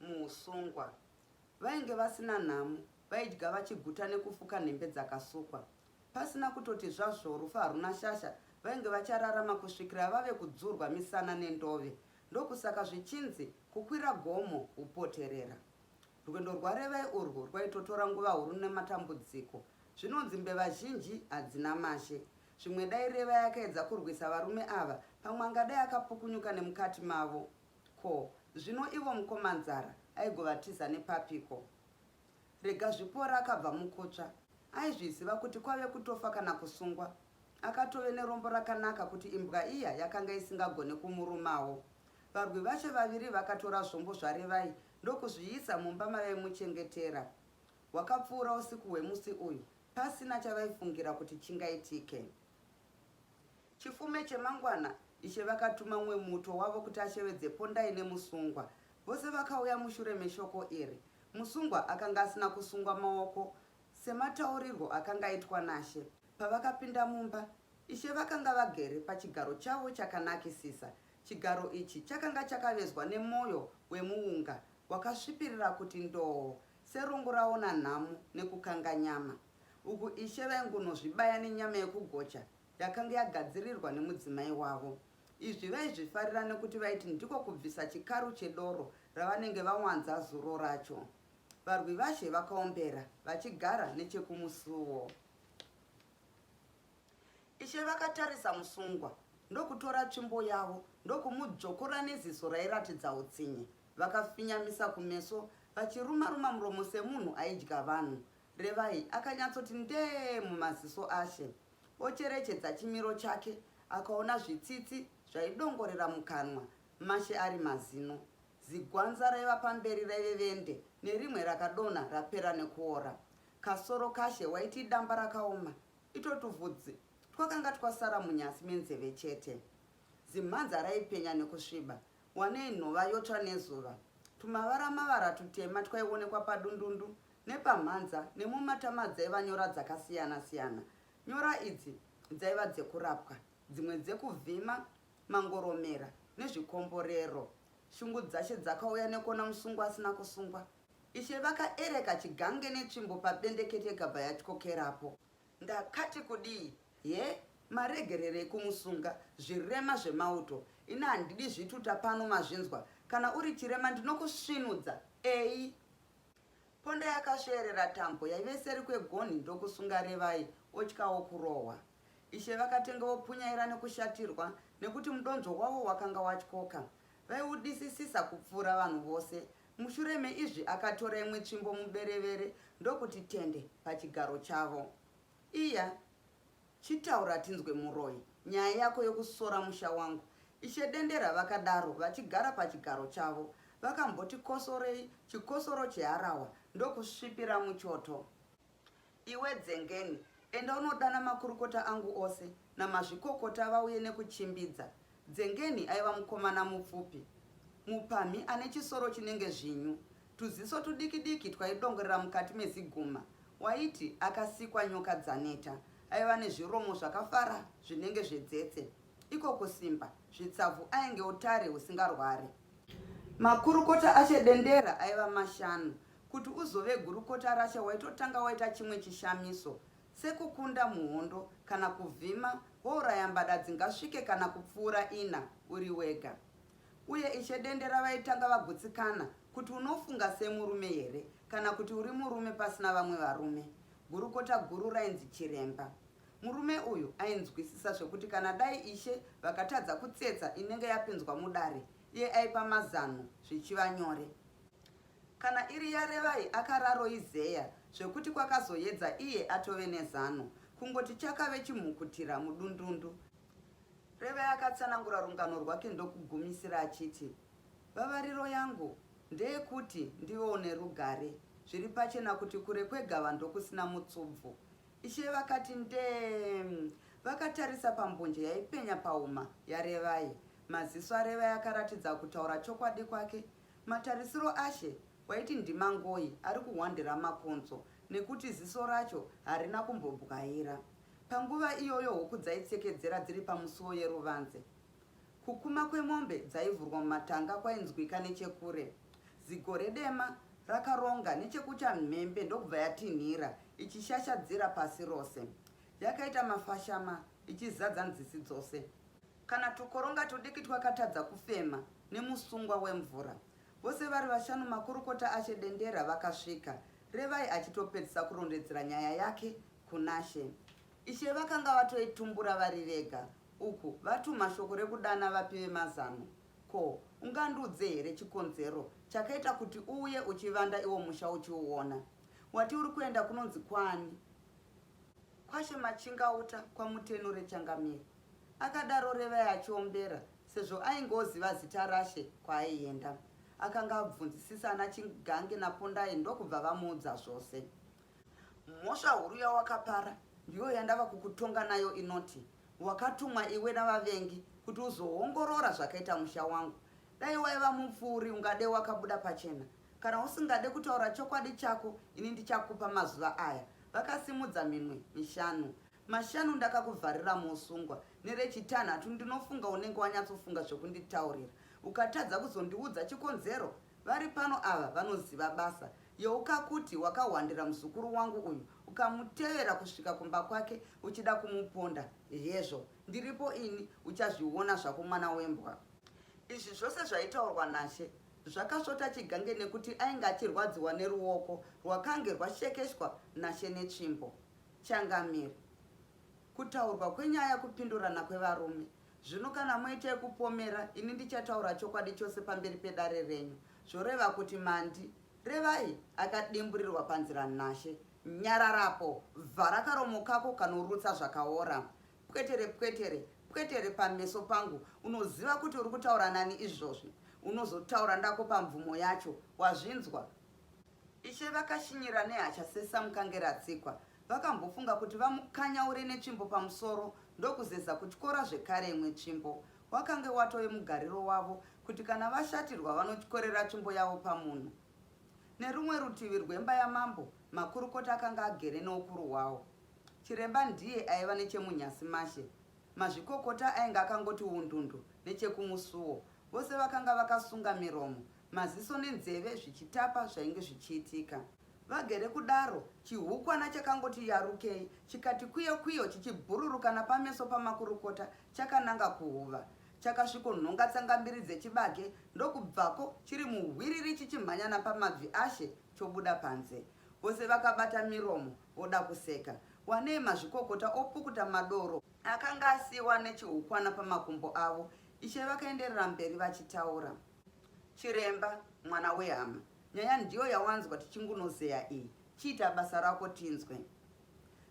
muhusungwa. Vainge vasina nhamo, vaidya vachiguta nekufuka nhembe dzakasukwa. Pasina kutoti zvazvoo rufu haruna shasha, vainge vachararama kusvikira vave kudzurwa misana nendove. Ndokusaka zvichinzi kukwira gomo hupoterera. Rwendo rwaRevai urwu rwaitotora nguva huru nematambudziko. Zvinonzi mbeva zhinji hadzina mashe. Zvimwe dai Revai akaedza kurwisa varume ava, pamwe angadai akapukunyuka nemukati mavo Ko zvino ivo mukoma nzara aigovatiza nepapiko. Rega zvipora akabva mukutsva. Aizviziva kuti kwave kutofa kana kusungwa. Akatove nerombo rakanaka kuti imbwa iya yakanga isingagone kumurumawo. Varwi vacho vaviri vakatora zvombo zvaRevai ndokuzviisa mumba mavaimuchengetera. Hwakapfuura usiku hwemusi uyu pasina chavaifungira kuti chingaitike. Chifume chemangwana Ishe vakatuma mumwe muto wavo kuti ashevedze Pondai nemusungwa. Vose vakauya mushure meshoko iri. Musungwa akanga asina kusungwa maoko semataurirwo akanga aitwa naShe. Pavakapinda mumba, Ishe vakanga vagere pachigaro chavo chakanakisisa. Chigaro ichi chakanga chakavezwa nemoyo wemuunga wakasvipirira kuti ndoo, serungu raona nhamo nekukanga nyama. Uku Ishe vaingunozvibaya nenyama yekugocha yakanga yagadzirirwa nemudzimai wavo. Izvi vaizvifarira nekuti vaiti ndiko kubvisa chikaru chedoro ravanenge vawanza zuro racho. Varwivazhe vakaombera vachigara nechekumusuwo. Ishe vakatarisa musungwa ndokutora tsvimbo yavo ndokumudzvokora neziso rairatidza utsinye. Vakafinyamisa kumeso vachiruma-ruma muromo semunhu aidya vanhu. Revai akanyatsoti ndee mumaziso ashe. Ocherechedza chimiro chake akaona zvitsitsi zvaidongorera mukanwa mashe ari mazino. Zigwanza raiva pamberi raive vende nerimwe rakadonha rapera nekuora. Kasoro kashe waiti idamba rakaoma ito tuvhudzi twakanga twasara munyasi menzeve chete. Zimhanza raipenya nekusviba Wanei nhova yotsva nezuva. Tumavara mavara tutema twaionekwa padundundu nepamhanza nemumatama dzaiva nyora dzakasiyana siyana. Nyora idzi dzaiva dzekurapwa, dzimwe dzekuvhima mangoromera nezvikomborero. Shungu dzashe dzakauya nekuona musungwa asina kusungwa. Ishe vakaereka chigange netsvimbo pabendekete ikabva yatyokerapo. Ndakati kudii he maregererei kumusunga zvirema zvemauto ini handidi zvituta pano mazvinzwa kana uri chirema ndinokusvinudza eyi Ponda yakasveerera tambo yaive seri kwegonhi ndokusunga Revai otyawo kurohwa. Ishe vakatenge vopunyaira nekushatirwa nekuti mudonzvo wavo wakanga watyoka. Vaiudisisisa kupfuura vanhu vose Mushure meizvi akatora imwe tsvimbo muberevere ndokuti tende pachigaro chavo. Iya, chitaura tinzwe muroyi, nyaya yako yokusora musha wangu. Ishe Dendera vakadaro vachigara pachigaro chavo. Vakamboti kosorei chikosoro cheharahwa ndokusvipira muchoto. Iwe Dzengeni, enda unodana makurukota angu ose namazvikokota vauye nekuchimbidza. Dzengeni aiva mukomana mupfupi, mupamhi ane chisoro chinenge zvinyu, tuziso tudikidiki twaidongorera mukati meziguma. Waiti akasikwa nyoka dzaneta. Aiva nezviromo zvakafara zvinenge zvedzetse. Iko kusimba, zvitsavhu ainge utare husingarware. Makurukota aChedendera aiva mashanu, Kuti uzove gurukota raShe waitotanga waita chimwe chishamiso, sekukunda muhondo kana kuvhima wouraya mbada dzingasvike kana kupfuura ina uri wega. Uye Ishe Dendera vaitanga vagutsikana kuti unofunga semurume here kana kuti uri murume pasina vamwe varume. Gurukota guru rainzi Chiremba. Murume uyu ainzwisisa zvekuti kana dai Ishe vakatadza kutsetsa inenge yapinzwa mudare, iye aipa mazano zvichiva nyore. Kana iri yaRevai akararo izeya zvekuti kwakazoyedza iye atove nezano. Kungoti chakave chimhukutira mudundundu. Revai akatsanangura rungano rwake ndokugumisira achiti, Vavariro yangu ndeyekuti ndivewo nerugare. Zviri pachena kuti kure kwegava ndokusina mutsubvu. Ishe vakati ndee-em vakatarisa pambonje yaipenya pahuma yaRevai. Maziso aRevai akaratidza kutaura chokwadi kwake Matarisiro aShe waiti ndiMangoi ari kuhwandira makonzo nekuti ziso racho harina kumbobwaira. Panguva iyoyo huku dzaitsekedzera dziri pamusuwo yeruvanze. Kukuma kwemombe dzaivhurwa mumatanga kwainzwika nechekure. Zigore dema rakaronga nechekuchamhembe ndokubva yatinhira ichishashadzira pasi rose. Yakaita mafashama ichizadza nzizi dzose. Kana tukoronga tudiki twakatadza kufema nemusungwa wemvura. Vose vari vashanu makurukota aShe Dendera vakasvika, Revai achitopedzisa kurondedzera nyaya yake kunaShe. Ishe vakanga vatoitumbura vari vega uku vatuma shoko rekudana vapi vemazano. Ko, ungandiudze here chikonzero chakaita kuti uuye uchivanda iwo musha uchiuona? Wati uri kuenda kunonzi kwaani? Kwashe Machingauta kwaMutenure Changamire, akadaro Revai achiombera sezvo ainge oziva zita rashe kwaaienda. Akanga abvunzisisa ana Chigange naPondai ndokubva vamuudza zvose. Mhosva huru yawakapara ndiyo yandava kukutonga nayo inoti wakatumwa iwe navavengi kuti uzoongorora zvakaita musha wangu. Dai waiva mupfuuri ungade wakabuda pachena Kana usingade kutaura chokwadi chako ini ndichakupa mazuva aya. Vakasimudza minwe mishanu. Mashanu ndakakuvharira muusungwa. Nerechitanhatu ndinofunga unenge wanyatsofunga zvekunditaurira. Ukatadza kuzondiudza chikonzero, vari pano ava vanoziva basa. Yeuka kuti wakahwandira muzukuru wangu uyu ukamutevera kusvika kumba kwake uchida kumuponda. Hezvo, ndiripo ini, uchazviona zvako mwana wembwa. Izvi zvose zvaitaurwa naShe Zvakasvota chigange nekuti ainge achirwadziwa neruoko rwakange rwashekeshwa nashe netsvimbo. Changamire. Kutaurwa kwenyaya kupindurana kwevarume. Zvino kana moita yekupomera ini ndichataura chokwadi chose pamberi pedare renyu. Zvoreva kuti mandi revai akadimburirwa panzira nashe. Nyararapo. Vhara karomo kako kanorutsa zvakaora. Pwetere pwetere pwetere pameso pangu unoziva kuti uri kutaura nani izvozvi unozotaura ndako pamvumo yacho wazvinzwa Ishe vakashinyira nehasha sesamukange ratsikwa vakambofunga kuti vamukanyaure netsvimbo pamusoro ndokuzeza kutyora zvekare imwe tsvimbo wakange watove mugariro wavo kuti kana vashatirwa vanotyorera tsvimbo yavo pamunhu nerumwe rutivi rwemba yamambo makurukota akanga agere neukuru hwawo Chiremba ndiye aiva nechemunyasi mashe. Mazvikokota ainge akangoti wundundu nechekumusuwo. Vose vakanga vakasunga miromo, maziso nenzeve zvichitapa zvainge zvichiitika. Vagere kudaro, chihukwana chakangoti yarukei chikati kwiyo kwiyo chichibhururuka napameso pamakurukota chakananga kuhuva. Chakasvikonhonga tsangambiri dzechibage ndokubvako chiri muhwiriri chichimhanya napamabvi ashe chobuda panze. Vose vakabata miromo Oda kuseka. Wanei mazvikokota opukuta madoro. Akanga asiiwa nechihukwana pamakumbo avo. Ishe vakaenderera mberi vachitaura. Chiremba, mwana wehama. Nyaya ndiyo yawanzwa tichingunozeya iyi. Chiita basa rako tinzwe.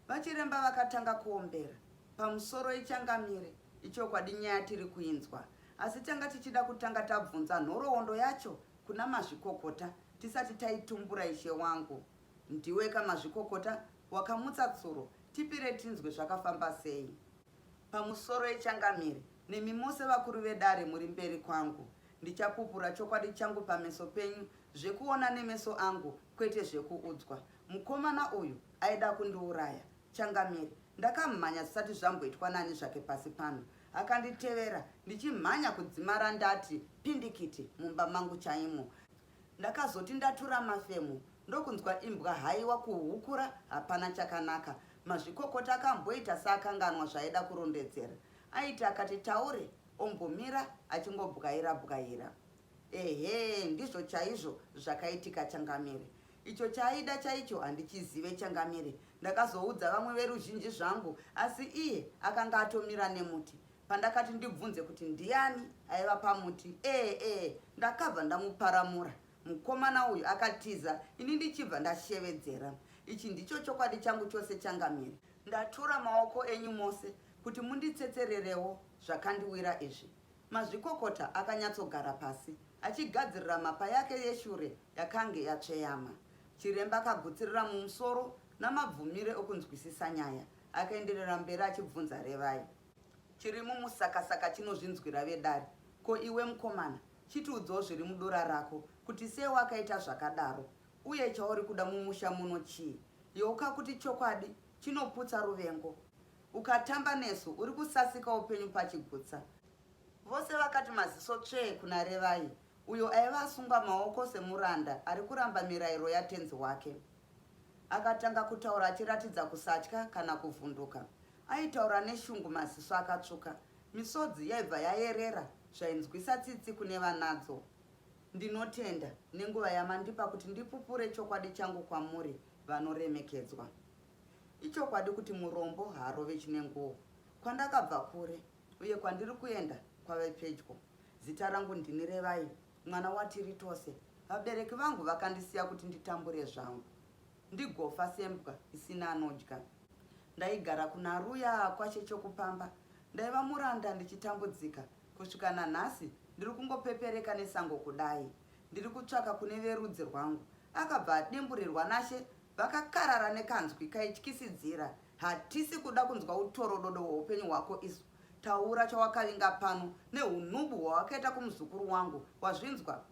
Vachiremba vakatanga kuombera. Pamusoro ichangamire. Ichokwadi nyaya tiri kuinzwa. Asi tanga tichida kutanga tabvunza nhoroondo yacho kuna mazvikokota tisati taitumbura ishe wangu. Ndiweka mazvikokota wakamutsa tsuro tipire tinzwe zvakafamba sei. Pamusoro echangamire nemi mose vakuru vedare muri mberi kwangu. Ndichapupura chokwadi changu pameso penyu zvekuona nemeso angu kwete zvekuudzwa. Mukomana uyu aida kundiuraya. Changamire. Ndakamhanya zvisati zvamboitwa nani zvake pasi pano. Akanditevera ndichimhanya kudzimara ndati pindikiti mumba mangu chaimo. Ndakazoti ndatura mafemo ndokunzwa imbwa haiwa kuhukura hapana chakanaka. Mazvikokota akamboita seakanganwa zvaaida kurondedzera. Aiti akati taure ombomira achingobwaira bwaira. Ehe ndizvo chaizvo zvakaitika Changamire. Icho chaaida chaicho handichizive Changamire. Ndakazoudza vamwe veruzhinji zvangu asi iye akanga atomira nemuti. Pandakati ndibvunze kuti ndiani aiva pamuti ee ee ndakabva ndamuparamura. Mukomana uyu akatiza ini ndichibva ndashevedzera. Ichi ndicho chokwadi changu chose changamire. Ndatura maoko enyu mose kuti munditsetsererewo zvakandiwira izvi. Mazvikokota akanyatsogara pasi achigadzirira mapa yake yeshure yakange yatsveyama. Chiremba akagutsirira mumusoro namabvumire okunzwisisa nyaya. Akaenderera mberi achibvunza Revai. chiri mumusakasaka chinozvinzwira vedare ko iwe mukomana chitiudzawo zviri mudora rako kuti sei wakaita zvakadaro uye chauri kuda mumusha muno chii yeuka kuti chokwadi chinoputsa ruvengo ukatamba nesu uri kusasika upenyu pachigutsa vose vakati maziso tsvee kuna revai uyo aiva asungwa maoko semuranda ari kuramba mirayiro yatenzi wake akatanga kutaura achiratidza kusatya kana kuvhunduka Aitaura neshungu maziso akatsvuka. Misodzi yaibva yayerera zvainzwisa tsitsi kune vanadzo. Ndinotenda nenguva yamandipa kuti ndipupure chokwadi changu kwamuri vanoremekedzwa. Ichokwadi kuti murombo haarove chine nguo. Kwandakabva kure uye kwandiri kuenda kwave pedyo. Zita rangu ndini Revai, mwana watiri tose. Vabereki vangu vakandisiya kuti nditambure zvangu. Ndigofa sembwa isina anodya. Ndaigara kuna Ruya kwaShe Chokupamba. Ndaiva muranda ndichitambudzika. Kusvika nanhasi ndiri kungopepereka nesango kudai. Ndiri kutsvaka kune verudzi rwangu. Akabva adimburirwa naShe vakakarara nekanzwi kaityisidzira. Hatisi kuda kunzwa utorododo hweupenyu hwako isu. Taura chawakavinga pano nehunhubu hwawakaita kumuzukuru wangu. Wazvinzwa?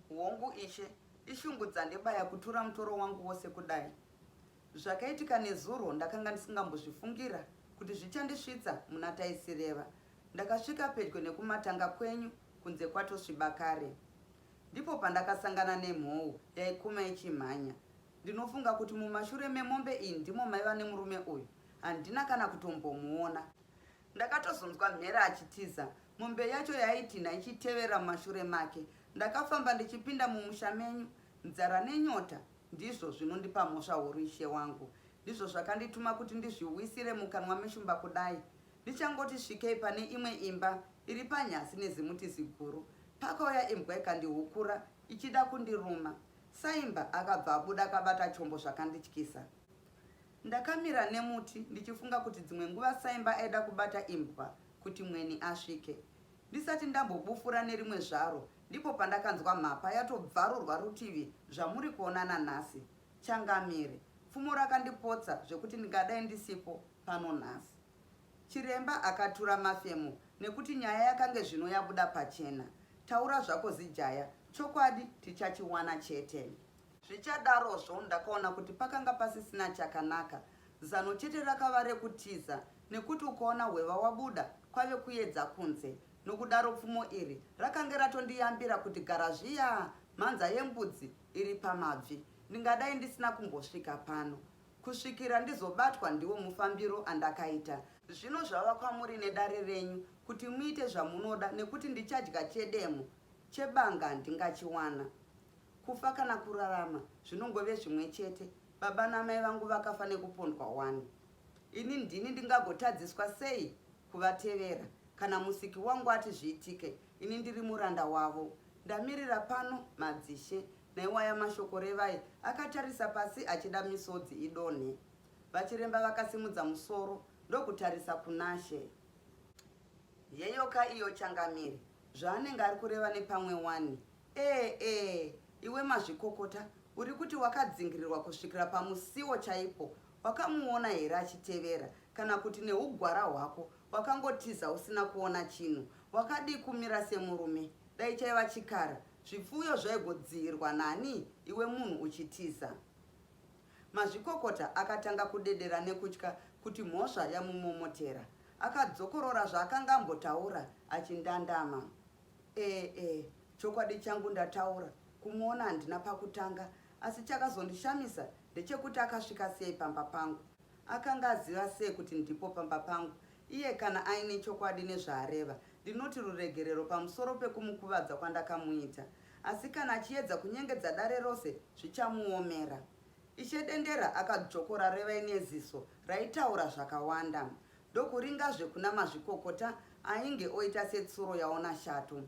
Hongu, Ishe, ishungu dzandibaya kutura mutoro wangu wose kudai. Zvakaitika nezuro ndakanga ndisingambozvifungira kuti zvichandisvitsa muna Taisireva. Ndakasvika pedyo nekumatanga kwenyu kunze kwatosviba kare. Ndipo pandakasangana nemhou yaikuma ichimhanya. Ndinofunga kuti mumashure memombe iyi ndimo maiva nemurume uyu. Handina kana kutombomuona. Ndakatozonzwa mhere achitiza. Mombe yacho yaitinha ichitevera mumashure make. Ndakafamba ndichipinda mumusha menyu. Nzara nenyota ndizvo zvinondipa mhosva huru ishe wangu. Ndizvo zvakandituma kuti ndizviwisire mukanwa meshumba kudai. Ndichangoti svikei pane imwe imba iri panyasi nezimuti ziguru. Pakauya imbwa ikandihukura ichida kundiruma. Saimba akabva abuda akabata chombo zvakandityisa. Ndakamira nemuti ndichifunga kuti dzimwe nguva saimba aida kubata imbwa kuti mweni asvike. Ndisati ndambobufura nerimwe zvaro ndipo pandakanzwa mhapa yatobvarurwa rutivi zvamuri kuona nanhasi. Changamire. Pfumo rakandipotsa zvekuti ndingadai ndisipo pano nhasi. Chiremba akatura mafemo nekuti nyaya yakange zvino yabuda pachena. Taura zvako Zijaya, chokwadi tichachiwana chete. Zvichadarozvo, ndakaona kuti pakanga pasisina chakanaka. Zano chete rakava rekutiza, nekuti ukaona hweva wabuda, kwave kuedza kunze. Nokudaro pfumo iri rakange ratondiyambira kuti gara zviyaa, mhanza yembudzi iri pamabvi. Ndingadai ndisina kumbosvika pano. Kusvikira ndizobatwa ndiwo mufambiro andakaita. Zvino zvava kwamuri nedare renyu kuti muite zvamunoda nekuti ndichadya chedemo, chebanga ndingachiwana. Kufa kana kurarama zvinongove zvimwe chete. Baba namai vangu vakafa nekupondwa wani. Ini ndini ndingagotadziswa sei kuvatevera kana musiki wangu ati zviitike ini ndiri muranda wavo. Ndamirira pano madzishe. Naiwaya mashoko Revai akatarisa pasi achida misodzi idonhe. Vachiremba vakasimudza musoro ndokutarisa kunashe. Yeyoka iyo changamire zvaanenge ari kureva nepamwe wani. Ee ee iwe mazvikokota uri kuti wakadzingirirwa kusvikira pamusiwo chaipo wakamuona here achitevera kana kuti neugwara hwako wakangotiza usina kuona chinhu wakadii kumira semurume dai chaiva chikara zvipfuyo zvaigodziirwa nani iwe munhu uchitiza mazvikokota akatanga kudedera nekutya kuti mhosva yamumomotera akadzokorora zvaakanga ambotaura achindandama Ee ee chokwadi changu ndataura kumuona handina pakutanga asi chakazondishamisa ndechekuti akasvika sei pamba pangu akanga aziva sei kuti ndipo pamba pangu iye kana aine chokwadi nezvaareva ndinoti ruregerero pamusoro pekumukuvadza kwandakamuita asi kana achiedza kunyengedza dare rose zvichamuomera ishe dendera akadzvokora revai neziso raitaura zvakawanda ndokuringazve kuna mazvikokota ainge oita setsuro yaona shato.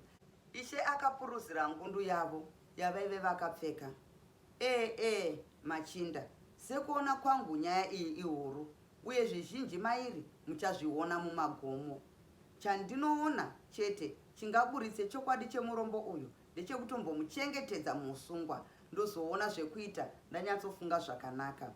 Ishe akapuruzira ngundu yavo yavaive vakapfeka. Ee ee machinda, sekuona kwangu nyaya iyi ihuru uye zvizhinji mairi muchazviona mumagomo. Chandinoona chete chingaburitse chokwadi chemurombo uyu ndechekutombomuchengetedza muusungwa ndozoona zvekuita ndanyatsofunga zvakanaka.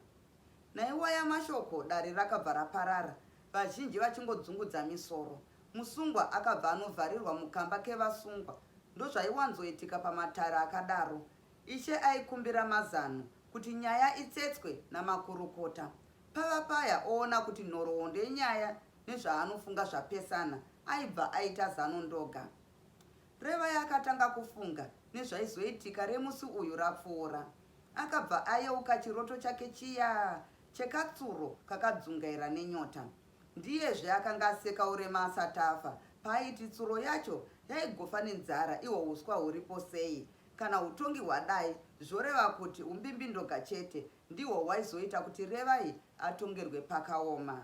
Naiwaya mashoko dare rakabva raparara vazhinji vachingodzungudza misoro. Musungwa akabva anovharirwa mukamba kevasungwa. Ndozvaiwanzoitika pamatare akadaro. Ishe aikumbira mazano kuti nyaya itsetswe namakurukota. Pava paya oona kuti nhoroondo yenyaya nezvaanofunga zvapesana aibva aita zano ndoga. Revai akatanga kufunga nezvaizoitika remusi uyu rapfuura. Akabva ayeuka chiroto chake chiya chekatsuro kakadzungaira nenyota. Ndiyezve akanga aseka urema asati afa paaiti tsuro yacho yaigofa nenzara ihwo uswa huripo sei. Kana hutongi hwadai zvoreva kuti umbimbindoga chete ndihwo hwaizoita kuti Revai atongerwe pakaoma.